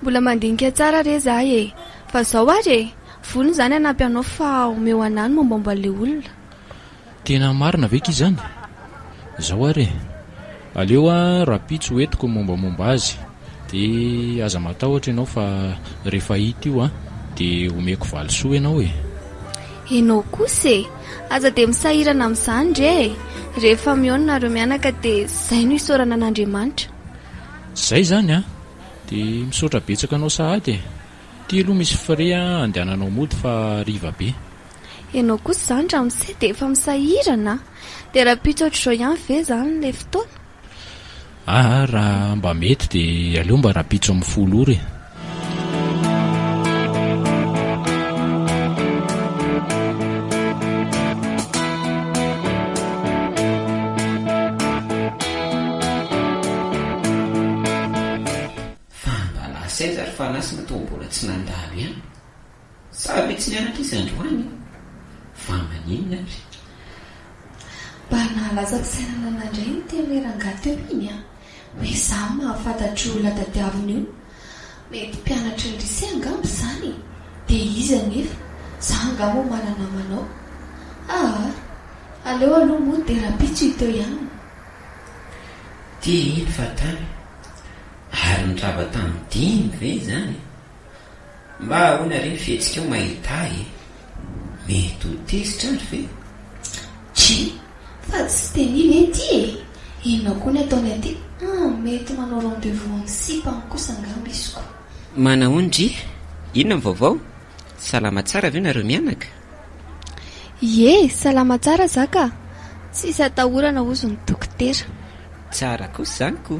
Mbola mandinika tsara re za e! Fa zao ary e! Vonona izany hanampy anao fa omeo anah ny mombamomba an'ilay olona. Tena marina ve ki zany? Zao ary e! Aleo a rapitso ho entiko ny mombamomba azy de aza matahotra enao fa refa hita io a de omeko valisoa enao e! Enao kosa e! Aza de misahirana amzany re e! Rehefa mihaona nareo mianaka de zay no isaorana an'Andriamanitra. Zay zany a! De misaotra betsaka anao sahady e! Ty aloha misy frais andehananao mody fa hariva be. Enao kosa izany ramose dia efa misahirana a! Dia rahampitso ohatr'izao ihany ve izany ilay fotoana? Aa raha mba mety dia aleo mba rahampitso amin'ny folo ora e! Fa mba lasa aiza ry Fanahy sy ny atao mbola tsy nandalo ihany? Sa ve tsy nianatra izy androany e? Fa maninona ary? Mba nahalaza fisainana nandray ny teny hoe rangahy teo iny an! Hoe izaho mahafantatr' io olona tadiaviny io. Mety mpianatry ny lycée angamba izany e! Dia izy anefa, za angaha moa mana-namana ao? Aa! Aleo aloha moa dia rahampitso i Teo ihany no. Dia iny fa tany. Ary ny rava tamin'ny dimy ve izany? Mba ahoana re ny fihetsikao mahita ahy e! Mety ho tezitra ary ve? Tchii! Fa tsy dia mino eh ty e! Inona koa ny ataony aty? Hum! Mety manao rendez-vous amin'ny sipa any kosa angamba izy ko! Manao an dry! Inona ny vaovao? Salama tsara ve nareo mianaka? Ie! Salama tsara za ka! Tsisy atahorana hozy ny dokotera. Tsara kosa izany ko!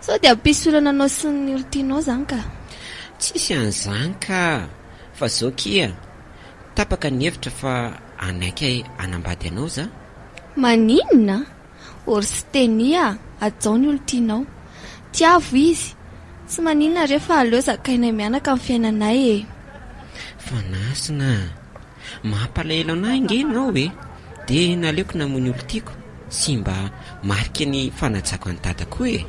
Sao dia hampisorana anao sy ny olon-tianao izany ka? Tsisy an'izany ka! Fa zao kia, tapaka ny hevitra fa hanaiky ahy hanambady anao za. Maninona? Or sy tenia, hajao ny olon-tianao. Tiavo izy. Tsy maninona re fa aleo zakainay mianaka ny fiainanay e! Fa nasina! Mampalahelo anah ange ianao e! De naleoko namoy ny olon-tiako sy mba mariky ny fanajako an'i Dada koa e!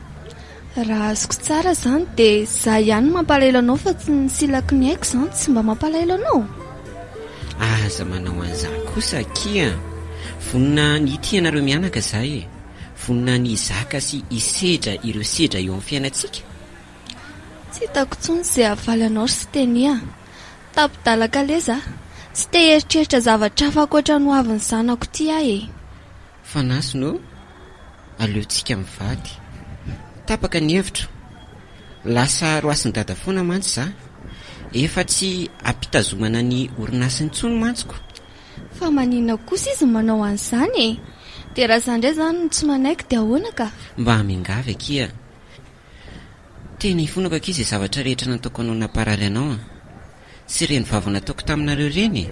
Raha azoko tsara zany de za ihany no mampalahelo anao fa tsy ny silaky ny aiko zany tsy mba mampalahelo anao e! Aza manao an'izany kosa akia a! Vonona ny hitia anareo mianaka za e! Vonona ny hizaka sy hisedra ireo sedra eo amin'ny fiainantsika! Tsy hitako intsony ze havaly anao ry Siteny a! Tapi-dalan-kalesa? Tsy te hieritreritra zavatra hafa ankoatra ny hoavin'ny zanako ity aho e! Fanasina ô! Aleontsika mivady. Tapaka ny hevitro. Lasa roasin'i Dada foana mantsy za. Efa tsy ampitazomana ny orinasa intsony mantsiko. Fa maninona kosa izy no manao an'izany e! Dia raha za indray izany no tsy manaiky dia ahoana ka? Mba miangavy akia. Tena hifonako akia izay zavatra rehetra nataoko anao namparary anao an! Tsy ireny vava nataoko taminareo ireny e!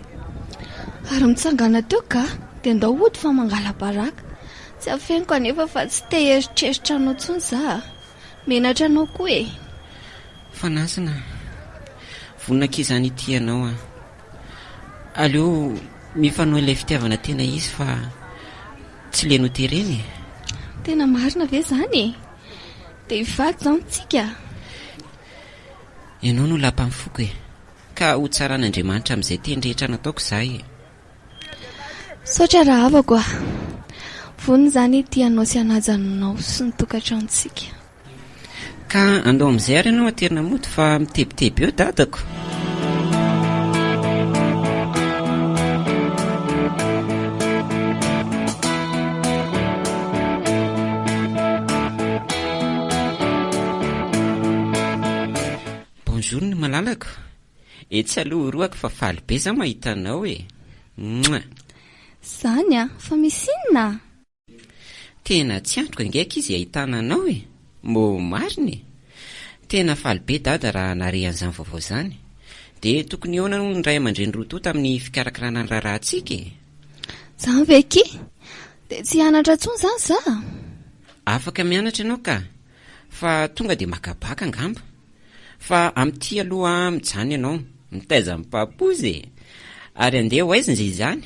Ary mitsangana teo ga dia ndao hody fa mangala-baraka! Tsy afeniko anefa fa tsy te hieritreritra anao intsony za a! Menatra anao koa e! Fanasina a! Vonona akia izany hitia anao an! Aleo mifanohy ilay fitiavana tena izy fa tsy leno ho terena e! Tena marina ve izany e! Dia faty zao ny tsika. Ianao no lapan'ny foko e. Ka ho tsaran'Andriamanitra amin'izay teny rehetra nataoko izaho e. Misaotra rahavako a. Vonona izaho ny hitia anao sy hanaja anao sy ny tokantranontsika. Ka andao amin'izay ary ianao aterina mody fa mitebiteby eo dadako. malalako Etsy aloha horohako fa faly be za mahita anao e Mouah Zany a, fa misy inona? Tena tsy antoka ange akia izay ahitana anao e! Mô marina e! Tena faly be Dada raha nare an'izany vaovao izany. Dia tokony hihaona hono ny ray aman-dreny roa tonta amin'ny fikarakarana ny raharahantsika e! Izany ve akia? Dia tsy hianatra intsony izany za? Afaka mianatra ianao ka! Fa tonga dia maka baka angamba? Fa amin'ity aloha mijanona ianao, mitaiza ny papoose e! Ary andeha ho aiza izany?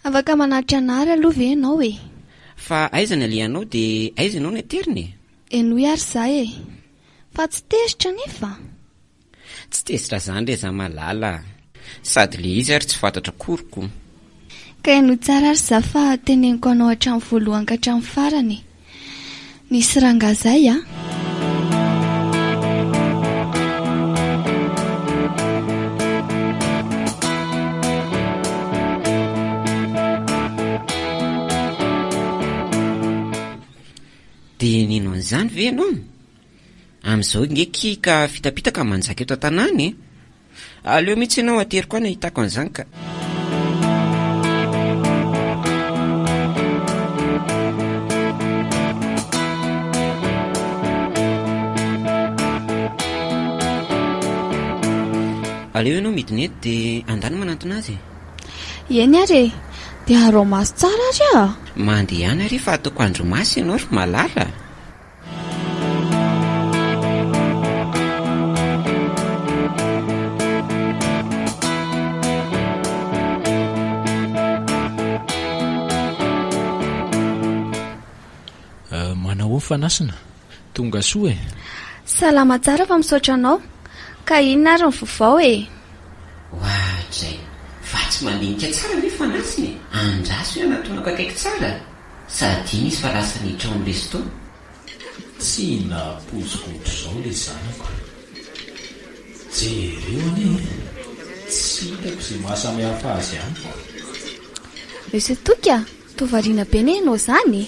Afaka manatitra an ary aloha ve ianao e? Fa aiza ny alehanao dia aiza ianao no aterina e? Henoy ary za e! Fa tsy tezitra anefa? Tsy tezitra zany re za malala a! Sady le izy ary tsy fantatra akory ko! Ka henoy tsara ary za fa teneniko anao hatramin'ny voalohany ka hatramin'ny farany e! Nisy rangahy zay a! Dia nino an'izany ve ianao? Amin'izao nge ki ka fitapitaka manjaka eto an-tanàna e! Aleo mihitsy ianao ateriko any ahitako an'izany ka! Aleo ianao midina eto dia andany manantona azy e! Eny ary e! Dia araho maso tsara ary a! Mandehana re fa ataoko andry maso ianao ry malala a! fanasina tonga soa e salama tsara fa misaotra anao ka inona ary ny vovao e wa zay fa tsy mandinika tsara ny fanasina e andraso ianatoanako akaiky tsara Sa adino izy fa lasa nitrao ny resto? Tsy nahapoiziko ohatr'izao le zanako. Jereo anie e! Tsy hitako ze mahasamihafa azy amiko. Monsieur Toky a! Toa variana be ne enao zany e!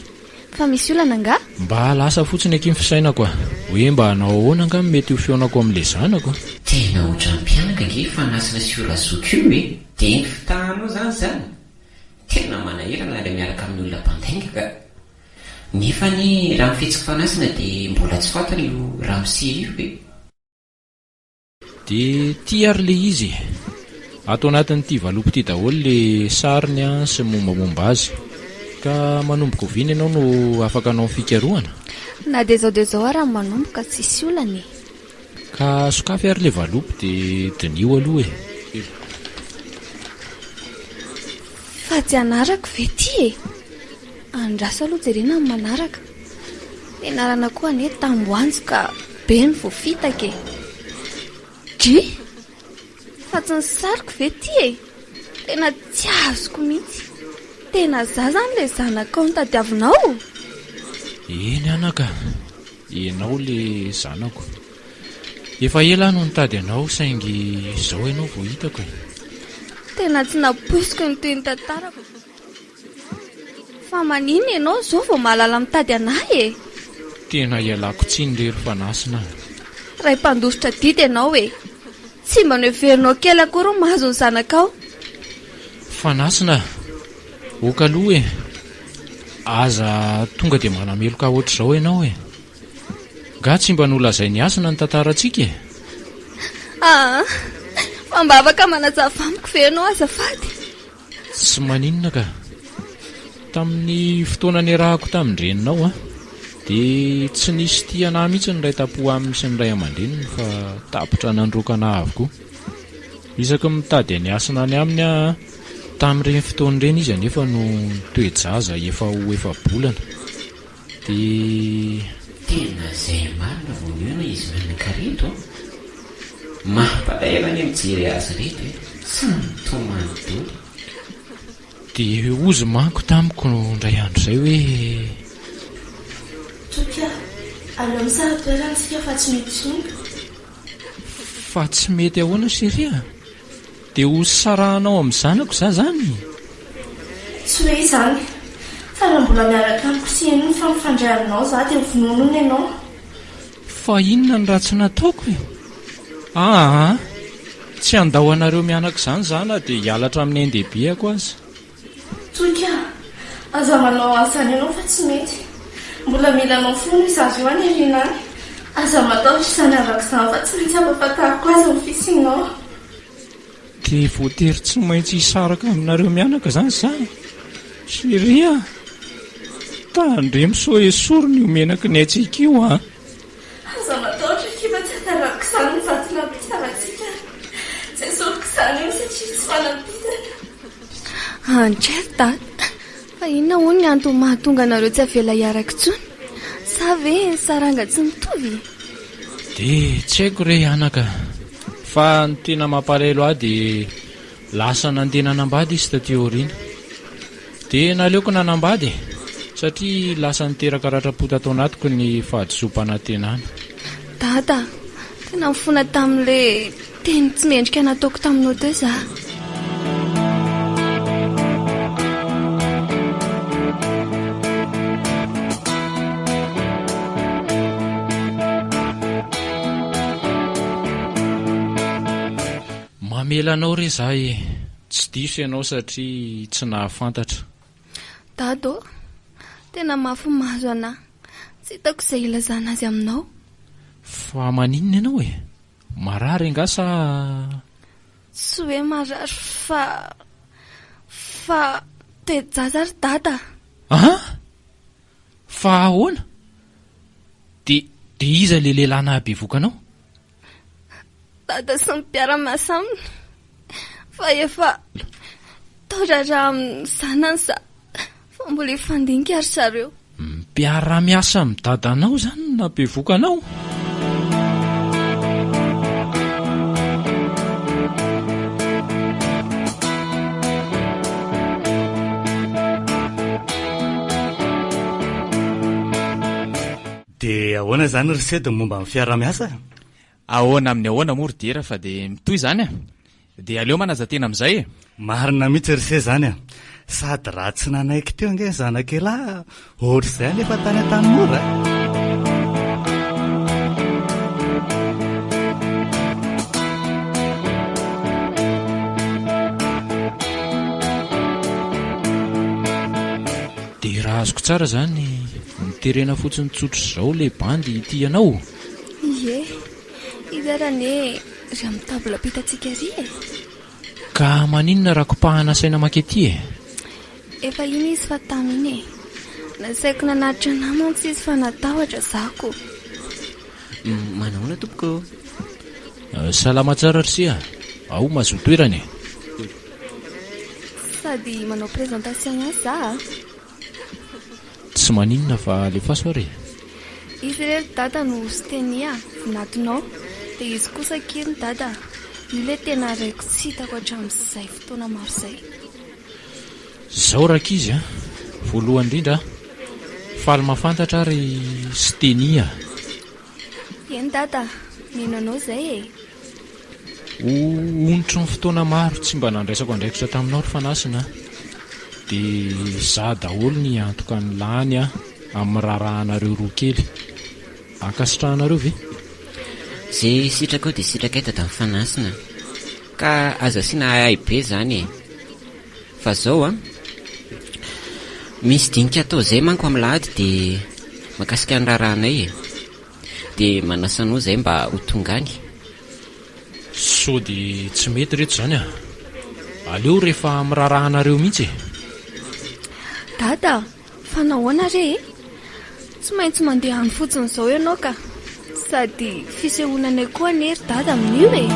Fa misy olana nga? Mba lasa fotsiny aky ny fisainako a! Hoe mba hanao ahoana nga no mety ho fihaonako amin'le zanako? Tena ohatran'ny mpianaka ange fanasina sy io razoky io e! De ny fitahanao zany zany? Tena manahirana ilay miaraka amin'ny olona mpandainga ka! Nefa anie raha ny fihetsiko fanasina dia mbola tsy fantany io ramose io e! Dia ty ary le izy e! Ato anatin'ity valopy ity daholo le sariny sy ny mombamomba azy. Ka manomboka oviana ianao no afaka hanao ny fikarohana? Na dia izao dia izao ara no manomboka, tsisy olana e! Ka sokafy ary le valopy de diniho aloha e! Fa tsy anarako ve ty e! Andraso aloha jerena ny manaraka. Nianarana koa anie tamboanjo ka be ny voafitaka e! Dry! Fa tsy ny sariko ve ty e! Tena tsy azoko mihitsy. Tena za zany le zanakao notadiavinao? Eny anaka! Ianao le zanako. Efa ela aho no nitady anao saingy izao ianao vao hitako e. Tena tsy nampoiziko ny tohin'ny tantarako. Fa maninona ianao izao vao mahalala mitady an'ahy e? Tena ialako tsiny re ry fanasina a. Ray mpandositra adidy ianao e. Tsy mba noheverinao kely akory ny mahazo ny zanakao? Fanasina, ok aloha e! Aza tonga dia manameloka hoatr'izao ianao e! Nga tsy mba nolazain'i Hasina ny tantarantsika e? Aa! Fa mba afaka manazava amiko ve ianao azafady? Tsy maninona ka. Tamin'ny fotoana niarahako tamin-dreninao dia tsy nisy tia anà mihitsy ny ray tampo aminy sy ny ray aman-dreniny fa tapitra nandroaka anà avokoa. Isaky ny mitady an'i Hasina any aminy aho tamin'ireny fotoana ireny izy anefa no toe-jaza efa ho efa-bolana. Dia tena izay marina vao nihaona izy nanan-kareto an! Mampalahelo anie mijery azy ireto e! Tsy mitomany dolo. Dia hozy manko tamiko indray andro izay hoe. Toky a! Aleo misara toerana isika fa tsy mety intsony. Fa tsy mety ahoana chérie a? Dia ho sarahanao amin'ny zanako za zany? Tsy hoe izany. Fa raha mbola miaraka amiko sy heno ny fampifandray aminao za dia ho vonoina hono ianao. Fa inona no ratsy nataoko e? Aa! Tsy handao anareo mianaka izany za na dia hialatra amin'ny ain-dehibeako aza. Toika a! Aza manao an'izany ianao fa tsy mety. Mbola mila anao foana i Zaza io any aoriana any. Aza matahotra izany havako izany fa tsy maintsy hampahafantariko azy ny fisianao. Dia voatery tsy maintsy hisaraka aminareo mianaka izany za? Chérie a! Tandremo sao esory ny ho menaky ny hatsiaka io a! Aza matahotra akia fa tsy hatarako izany ny vato nampisana antsika Tsy asoviko izany hono satria tsy fanampitana. Ancher Dada, fa inona hono ny antony mahatonga anareo tsy avela hiaraka intsony? Sa ve ny saranga tsy mitovy? Dia tsy haiko re anaka, fa ny tena mampalahelo ahy dia. Lasa nandeha nanambady izy taty aoriana. Dia naleoko nanambady e! Satria lasa niteraka ratram-po tato anatiko ny fahadisoam-panantenana. Dada, tena mifona tamin'ilay teny tsy mendrika nataoko taminao teo izaho. Mamela anao re za e. Tsy diso ianao satria tsy nahafantatra. Dado ô! Tena mafy maso anah. Tsy hitako izay hilazana azy aminao. Fa maninona ianao e? Marary angaha sa. Tsy hoe marary fa. Fa toe-jaza ry dada a! An! Fa ahoana? Dia dia iza ilay lehilahy nahabevoka anao? dada sy ny mpiara-miasa aminy fa efa tao-draharaha amin'ny zanany za fa mbola hifandinika ry zareo. Mpiara-miasa amin'ny dadanao izany no nampivoka anao? Dia ahoana izany ry sed ny momba ny fiaraha-miasa? Ahoana amin'ny ahoana moa ry Diera fa dia mitohy izany a! Dia aleo manaja-tena amin'izay e! Marina mihitsy ry se izany a! Sady raha tsy nanaiky teo ange ny zanak'ialahy ohatr'izay anefa tany Antanimora a! Dia raha azoko tsara izany, Miterena fotsiny tsotra izao le bandy ity ianao? Ie, hizara anie ry amin'ny table ampitatsika ry e! Ka maninona raha kopahana saina maka ety e? Efa iny izy fa tamy iny e! Nasaiko nanatitra anà mantsy izy fa natahotra za ko! Manahoana tompoko ô? Salama tsara ry se a! Ao mahazoa toerana e! Sady manao présentation ihany za a! Tsy maninona fa alefaso ary e. Izy re ry dada no Siteny a! vinatonao dia izy kosa ki ry dada a! io le tena reko tsy hitako hatramin'izay fotoana maro izay. Zao rankizy a! voalohany indrindra a! faly mafantatra aho ry Siteny a! Eny dada a! mino anao izay e! Ho onitry ny fotoana maro tsy mba nandraisako andraikitra taminao ry Fanasina dia izaho daholo ny hiantoka ny lany amin'ny raharahanareo roa kely. Ankasitrahanareo ve? Ze sitrakao de sitrakay dadan'i Fanasina ka aza asiana ahiahy be zany e! Fa zao an! Misy dinika atao zay manko amin'lahady de mahakasika ny raharahanay e! Dia manasa anao izay mba ho tonga any. Sôdy tsy mety reto izany a! Aleo rehefa miraraha anareo mihitsy e! Dada a! Fa nahoana re e? Tsy maintsy mandeha any fotsiny izao ianao ka! Sady fisehoana anay koa anie ry Dada amin'io e!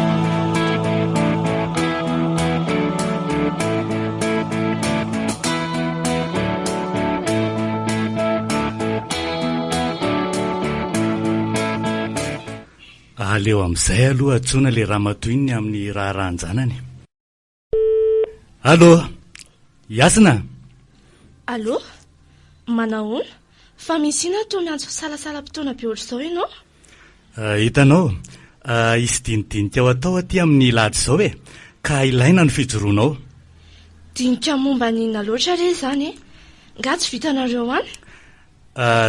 Aleo amin'izay aloha antsoina ilay ramatoa iny amin'ny raharahan-janany. Allo! Hasina! Allo! Manahoana? Fa misy inona toa miantso fisalasala-potoana be ohatr'izao ianao? Hitanao, hisy dinidinika ho atao aty amin'ny ilady izao e, ka ilaina ny fijoroanao. Dinika momba ny inona loatra re izany e? Nga tsy vitanareo any?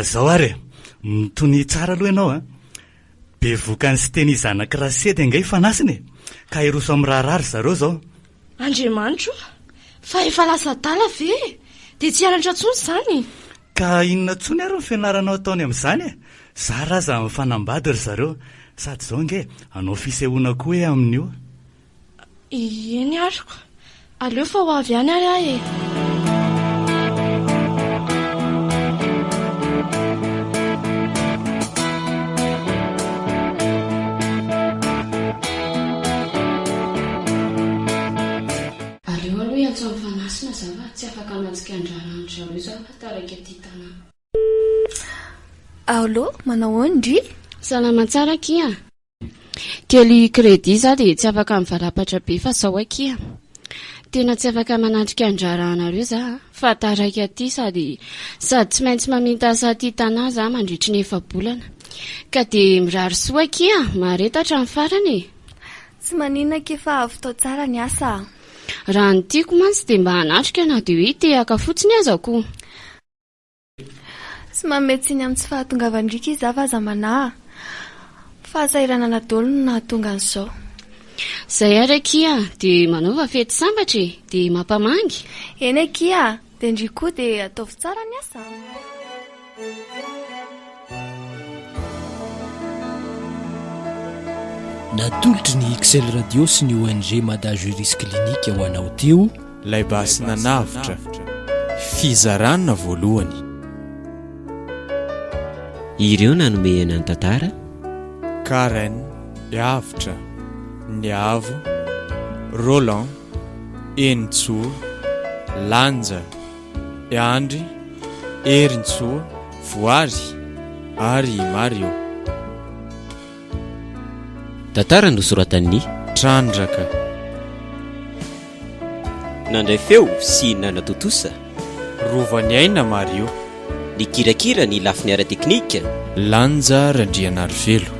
Izao ary e, mitonia tsara aloha ianao a! Bevoka an'i Siteny zanak'i Rasedy ange ifanasina e, ka hiroso amin'ny raharaha ry zareo izao. Andriamanitro o! Fa efa lasa adala ve e? Dia tsy hianatra intsony izany? Ka inona tsony ary ny fianaranao ataony amin'izany e? Zara aza mifanambady ry zareo. Sady izao ange hanao fisehoana koa ee amin'io. Ieny ary ko. Aleo fa ho avy ihany ary aho e. Aleo aloha hiantso an'i Fanasina za fa tsy afaka mantsika an-draharaha an-dry zareo za fa taraiky aty Tana. Allo, manao ahoana ndry? Salama tsara akia. Kely credit za dia tsy afaka mivalapatra be fa zao akia. Tena tsy afaka manatrika an-draharahanareo za fa taraiky aty sady sady tsy maintsy maminta asa aty Tana za mandritry ny efa-bolana ka dia mirary soa akia mahareta hatramin'ny farany e. Tsy maninona akia fa avy tao tsara ny asa a. Raha ny tiako mantsy dia mba hanatrika na dia hoe tehaka fotsiny aza koa. Tsy manome tsiny amin'ny tsy fahatongavan-driaka izy hafa aza manahy. Fahasahiranana daholo no nahatonga an'izao. Izay ary akia a! Dia manaova fety sambatra e! Dia mampamangy. Eny akia a! Dia ndry koa dia ataovy tsara ny asa a! Natolotry ny XL Radio sy ny ONG Mada Juris Clinique ho anao teo ilay basy nanavotra fizarana voalohany. Ireo nanome aina ny tantara. Karen, Avotra, Niavo, Roland. Henintsoa, Lanja, Andry, Herintsoa, Voary ary i Mario. Tantara nosoratan'i. Trandraka. Nandray feo sy nanatontosa. Rovan'i Aina Mario. Nikirakira ny lafiny ara-teknika. Lanja Randrianarivelo.